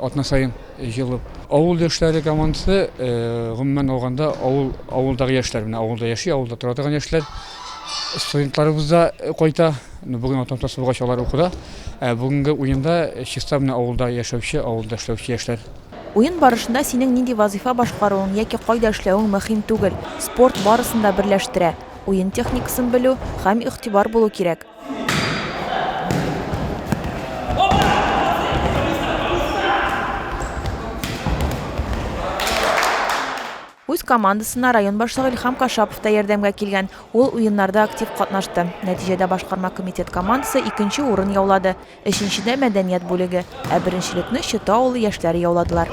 Атна саен җылып. Авыл яшьләре командасы, гомумән алганда, авыл, авылдагы яшьләр, менә авылда яши, авылда тора торган яшьләр. Студентларыбыз да кайта. Ну, бүген атнасы булгач, алар укуда. Ә бүгенге уенда чиста менә авылда яшәүче, авылда эшләүче яшьләр. Уен барышында синең нинди вазыйфа башкаруың яки кайда эшләвең мөһим түгел. Спорт барысын да берләштерә. Уен техникасын белү һәм игътибар булу кирәк. Үз командасына район башлыгы Илхам Кашапов та ярдәмгә килгән. Ул уеннарда актив катнашты. Нәтиҗәдә башкарма комитет командасы икенче урын яулады, өченчедә мәдәният бүлеге, ә беренчелекне Чота авылы яшьләре яуладылар.